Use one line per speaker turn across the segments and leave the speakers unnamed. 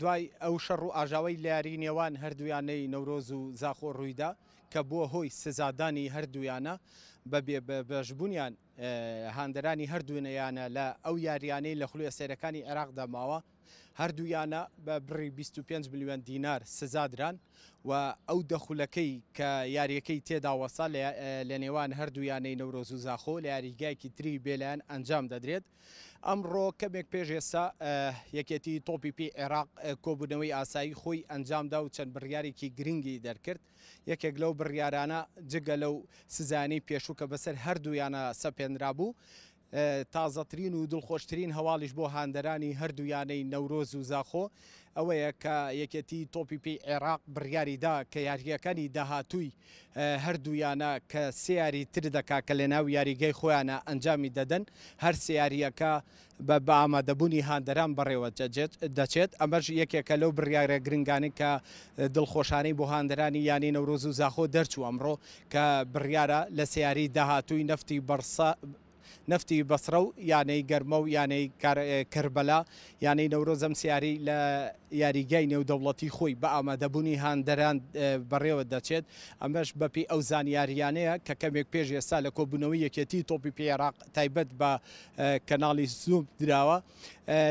دوای ئەو شەڕ و ئاژاوەی لە یاریی نێوان هەردوویانەی نەورۆز و زاخۆ روویدا کە بووە هۆی سزادانی هەردوویانە بە بێبەشبوونیان، هاندەرانی هەردوو یانە لە ئەو یارییانەی لە خولە سەیرەکانی عێراقدا ماوە، هەردوو یانە بە بڕی بیست و پێنج ملیۆن دینار سزادران و ئەو دە خولەکەی کە یارییەکەی تێدا وەستا لە نێوان هەردوو یانەی نەورۆز و زاخۆ لە یاریگایەکی تری بێلایەن ئەنجام دەدرێت. ئەمڕۆ کەمێک پێش ئێستا یەکێتی تۆپی پێی عێراق کۆبوونەوەی ئاسایی خۆی ئەنجامدا و چەند بڕیارێکی گرنگی دەرکرد یەکێک لەو بڕیارانە جگە لەو سزانەی پێشوو کە بەسەر هەردوویانە سەپێنرا بوو تازەترین و دڵخۆشترین هەواڵیش بۆ هاندەرانی هەردوویانەی نەورۆز و زاخۆ ئەوەیە کە یەکێتی تۆپی پێی عێراق بڕیاریدا کە یاریەکانی داهاتووی هەردوو یانە کە سێ یاری تر دەکات کە لەناو یاریگای خۆیانە ئەنجامی دەدەن، هەر سێ یارییەکە بە بە ئامادەبوونی هاندەران بەڕێوە دەچێت، ئەمەش یەکێکە لەو بڕیارە گرنگانەی کە دڵخۆشانەی بۆ هاندەرانی یانەی نەورۆز و زاخۆ دەرچوو ئەمڕۆ کە بڕیارە لە سێ یاری داهاتووی نەفتی بەڕسا نەفتی بەسڕە و یانەی گەرمە و یانەی کەربەلا یانەی نەورۆز ئەم سیاری لە یاریگای نێودەوڵەتی خۆی بە ئامادەبوونی هاندەران بەڕێوە دەچێت ئەمەش بەپی ئەو زانیاریانەیە کە کەمێک پێش ئێستا لە کۆبوونەوەی یەکێتی تۆپی پێ عێراق تایبەت بە کەناڵی زوم دراوە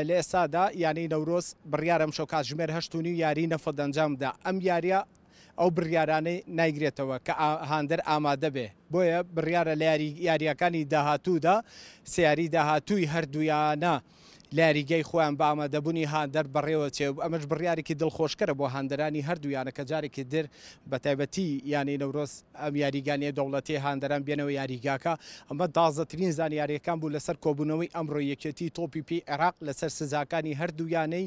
لە ئێستادا یانەی نەورۆز بڕیارم شەو کاتژمێر هەشتونی و یاری نەفەت ئەنجامدا ئەم یاریە ئەو بڕیارانەی نایگرێتەوە کە هاندەر ئامادەبێ، بۆیە بڕیارە لە یارییەکانی داهاتوودا سێ یاریی داهاتووی هەردوویانە لە یاریگای خۆیان بە ئامادەبوونی هاندەر بەڕێوەچێ و ئەمەش بڕیارێکی دڵخۆشکەرە بۆ هاندەرانی هەردوو یانە کە جارێکی تر بە تایبەتی یانەی نەورۆز ئەم یاریگانییە دەوڵەتییە هاندەران بێنەوە یاریگاکە. ئەمە تازەترین زانیارییەکان بوو لەسەر کۆبوونەوەی ئەمڕۆی یەکێتیی تۆپی پێی عێراق لەسەر سزاکانی هەردوو یانەی